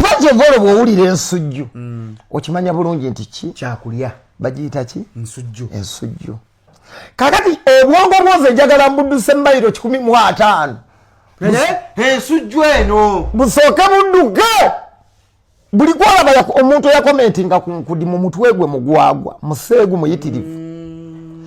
pajevolo bwowulira ensujju mm. okimanya bulungi nti ki kyakulya bagiyita ki ensujju ensujju kakati obwongo bwozi enjagala mbuduse mumayiro kikumi mu ataano ensujju eno busooke budduke buli kwolaba omuntu eyakomentinga kunkudi mu mutwe gwe mugwagwa museegu muyitirivu mm.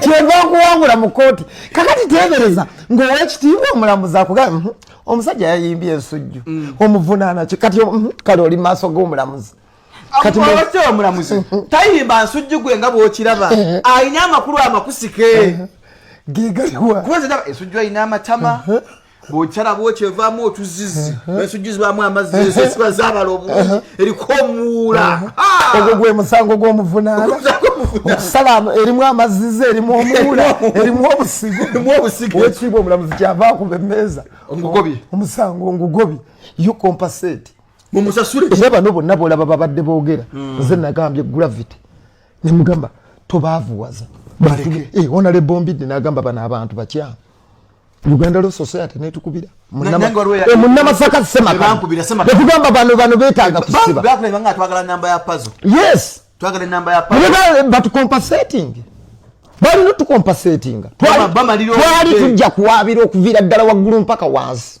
kyenva nkuwangula mu kooti kakati tebereza ngaowekitiibwa omulamuzi akugaa mhm, omusajja yayimbye ensujju mm. omuvunaanaki kati mhm, kale oli maaso g'omulamuzi omulamuzi mhm. tayimba nsujju gwe nga bwokiraba alina amakulu amakusike gegaliwa kuba ensujju alina amatama bwokyala bwokyo evaamu otuzizi esujjuzibwamu amazzi esiba zabala obulungi eriko omuwuula ogwo gwe musango gw'omuvunaana okusala erimu amazizi erimu omuwuula erimu obusigo owekiibwa omulamuzi kyava kuba emmeeza omusango ngugobye yo compasate mumusasule era bano bonna bolaba babadde boogera hmm. nze nagambye gravity nemugamba tobaavuwaza onalebombi eh, nagamba bano abantu bakyamu uganda lo society netukubira munamasaka eh, semakatugamba bano bano betaga kusibaatucompasating balina otucompasatinga twali tujja kuwabira okuviira ddala waggulu mpaka wansi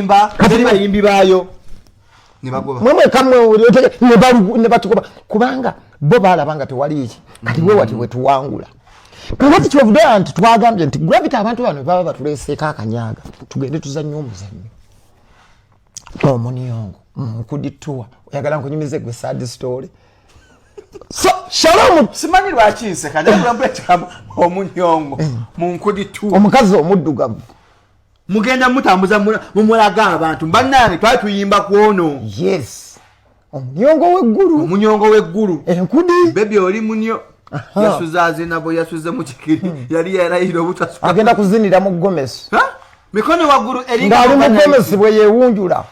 balimba teri bayimbi baayo nebatugoba kubanga bo balaba nga tewali eki kati wewati wetuwangula kakati kyovudewa nti twagambye nti gravity abantu bano baba batuleseeko akanyaga tugende tuzanye omuzanyo omuniongo nkudituwa oyagala nkunyumize gwe sad story so shalom simanyi lwaki nseka naye kulambula kikamu omunyongo eh. mu nkudituwa omukazi omuddugavu mugenda mutambuza mumulaga abantu banange twali tuyimba kwono yes omunyongo weggulu omunyongo weggulu enkudi bebi oli munyo yasuza azinabo yasuze mukikiri hmm. yali yarayira obutasuka agenda kuzinira mu gomesi mikono waggulu eringa ali mu gomesi bwe yewunjula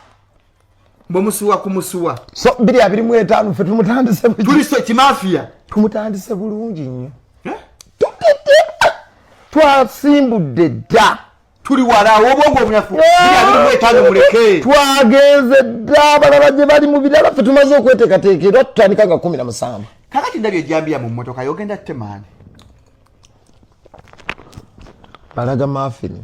mumusuwa kumusuwa so biri abiri mu etaano ffe tumutandise tuliso kimafiya tumutandise bulungi nnyo eh? tutete twasimbudde dda tuli walawo obwongo obunafu biri abiri mu etaano muleke twagenze dda abalala gye bali mu birala ffe tumaze okweteekateeka era tutandika nga kumi na musanvu kakati ndabye ejambiya mu mmotoka yogenda temaani balaga mafini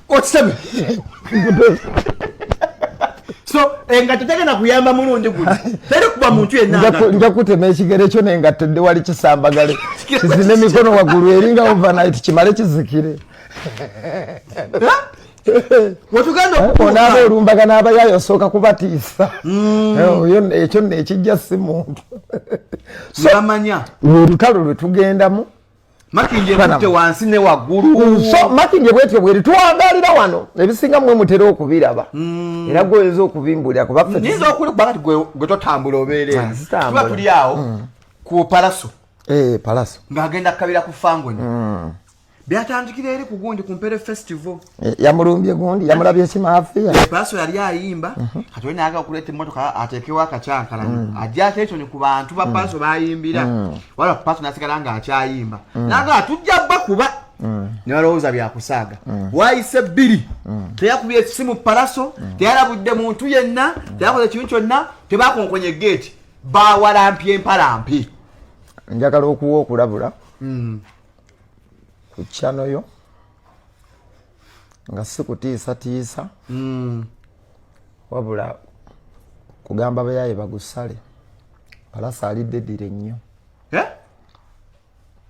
okisabye so engatto tegenda kuyamba mulundi guno teri kuba muntu yenanja kutema ekigere kyo nengatto dde wali kisambagale kizina emikono waggulu eringa overnight kimale kizikire onaaba olumbaga n'abayayo osooka kubatiisa mm. eh, ekyo nekijja si muntu olutalo lwe tugendamu makindye kutte wansi ne waggulu so makindye bwetyo bweri twagalira wano ebisinga mwe mutera okubiraba mm. era gwoyinza okubimbulira kubanyinza okuli kubanga gwe totambula obeerekuba ah, tuli awo mm. ku palaso eh, palaso ng'agenda kukabira ku fangoni mm. byatandikira eri ku gundi ku mpere festival Eh, yamulumbye gundi yamulabye simafia paso yali ayimba mhm. kati olina aga okuleta emotoka atekewo akakyankalani mm. ajja atensoni ku bantu ba mm. paso bayimbira mm. wala paso nasigala nga akyayimba naga atujja ba kuba nebalowooza byakusaaga wayise bbiri teyakubye esimu palaso teyalabudde muntu yenna teyakoze ekintu kyonna tebakonkonye geeti bawalampye empalampi njagala okuwa okulabula ku kyanoyo nga si kutiisatiisa mm. wabula kugamba bayaye bagusale palasa alidde dire nnyo eh?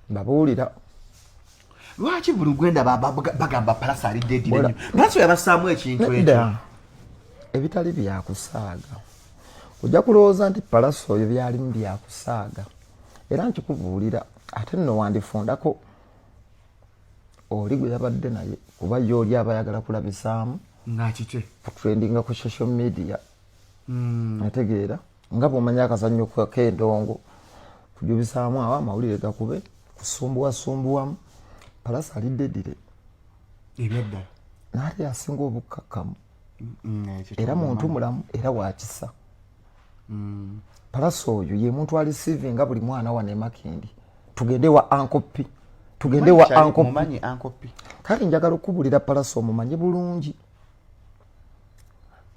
babuulira lwaki buli gwenda bagamba palasa alidde dire nnyo palasa yabasaamu ekintu ekyo ebitali byakusaaga ojja kulowooza nti palasa oyo byalimu byakusaaga era nkikubuulira ate nno wandifundako oli gwe yabadde naye kuba ye oli aba ayagala kulabisaamu ngakikye kutrendinga ku social media hmm. ategeera nga bwomanya akazannyo kendongo kujubisaamu awo amawulire gakube kusumbuwasumbuwamu palasi alidde dire ebyaddala naali asinga obukkakkamu hmm, era muntu mulamu era wakisa mm. palasa oyo ye muntu alisivinga buli mwana wane makindi tugende wa ankopi tugende wa ankopi kale njagala okubulira palasa omumanyi bulungi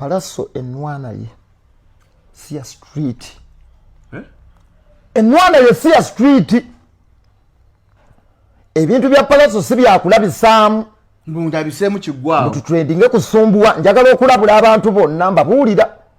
palaso enwana ye siya street eh? enwana ye siya street ebintu bya palaso si byakulabisaamu mbuabiseemu kigwawo tutrendinge kusumbuwa njagala okulabula abantu bonna mbabuulira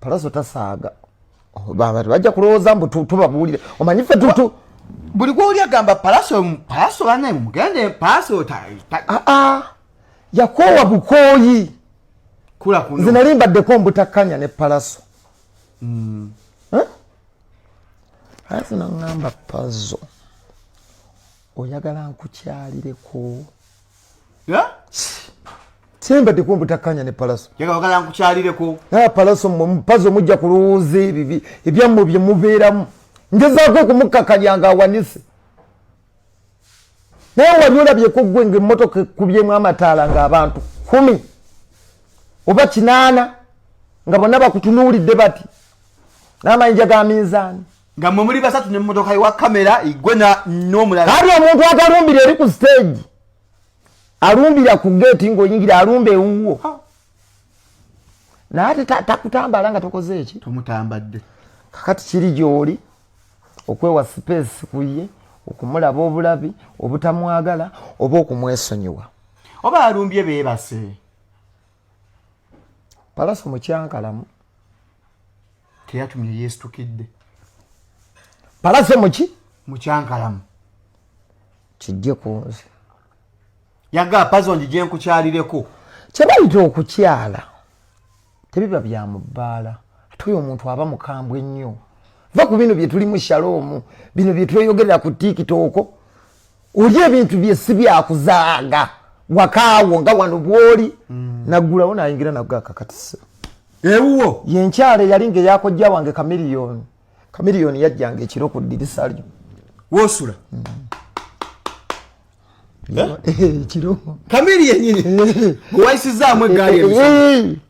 palaso tasaaga baba bajja kulowooza mbu tubabuulire omanyi fe tutu buli gwoli agamba palaso palaso bane mugende palaso aa ah, ah. yakoowa bukooyi nze nali mbaddeko mbutakkanya ne palaso hmm. aye zino ŋŋamba pazo oyagala nkukyalireko sembadeko mbutakanya ne palaso yagala nkukyalireko naye palaso mwe mupazo mujja kulowooza ebibi ebyammwe bye mubeeramu ngezaako okumukkakanya nga awanise naye wali olabyeko gwe nga emmotoka ekubyemu amataala nga abantu kumi oba kinaana nga bonna bakutunuulidde bati n'amayinja ga minzaani nga mwe muli basatu ne mmotoka ewa kamera igwe n'omulala kati omuntu atalumbira eri ku stage alumbira ku geeti ng'oyingira alumba ewuwo naye ate takutambala nga tokoze eki tomutambadde kakati kiri gy'oli okwewa sipeesi ku ye okumulaba obulabi obutamwagala oba okumwesonyiwa oba alumbye beebase palaso mukyankalamu teyatumye yesitukidde palaso muki mukyankalamu kijje ku nze yaga pazo njije nkukyalireko kyebayita okukyala tebiba bya mubbaala ate oyo omuntu aba mukambwe nnyo va ku bino byetulimu shaloomu bino byetweyogerera ku tikitooko oli ebintu bye si byakuzaaga wakaawo nga wano bwoli mm. naggulawo nayingira nago akakatisa ewuwo yenkyalo eyali nga eyakojja wange kamiriyoni kamiriyoni yajjanga ekiro ku ddirisa lyo wosula mm. eh? eh, ekiro kamiri yenyini gwewayisizaamu eggaali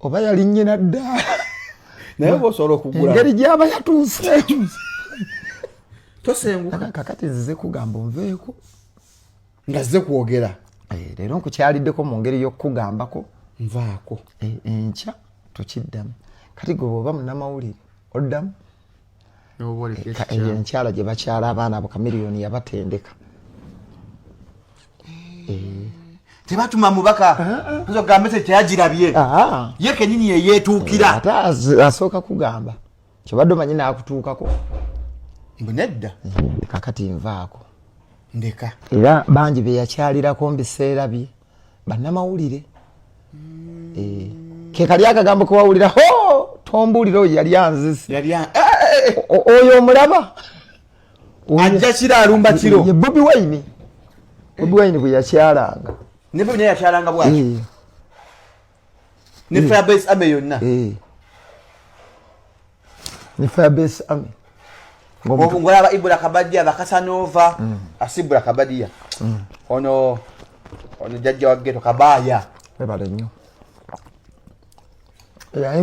oba yali nyina ddaala naye oba osobola okugula engeri gyaba yatuuse tosenguka kakati nzize kugamba onveeko nga zze kwogera eh, leero nkukyaliddeko mu ngeri y'okukugambako nvaako eh, enkya tukiddamu kati gwe bwoba munamawulire oddamu eyo enkyala gye bakyala abaana abo kamiriyoni yabatendeka eh. Eh. tebatuma mubaka gambe tekyagirabye ye kenyini yeyetuukira ate asooka kugamba kyobadde omanyi nakutuukako mbu nedda kakati nvaako ndeka era bangi beyakyalirako mubiseera bye bannamawulire mm. eh, kekali akagambo kewawulira ho tombulire oyo yali anzise eh, eh, oyo omulaba ajja kiro alumba kiro ye bobi wine bobi wine bwe yakyalanga ne bobi naye yakyalanga bwaki ne mm. firebase ame yonna eh. ne firebase ame ngolaba ibula kabadiya bakasanova mm. asibula kabadiya mm. ono ono jajja wageto kabaya ebale nyo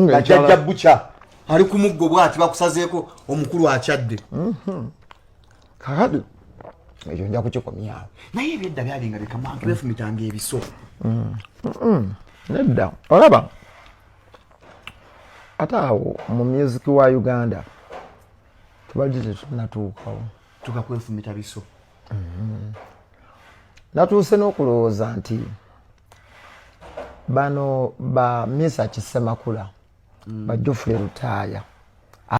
bajajja buca ali ku muggo bwati bakusazeeko omukulu akyadde mm-hmm. kakati ekyo nja kukikomyawo naye ebyedda byalinga bikamantu befumitanga ebiso mm. mm. nedda olaba ate awo mu music wa uganda tubadde tetunatuukawo tukakwefumita biso mm-hmm. natuuse n'okulowooza nti bano ba misa kisemakula mm. bajofule lutaaya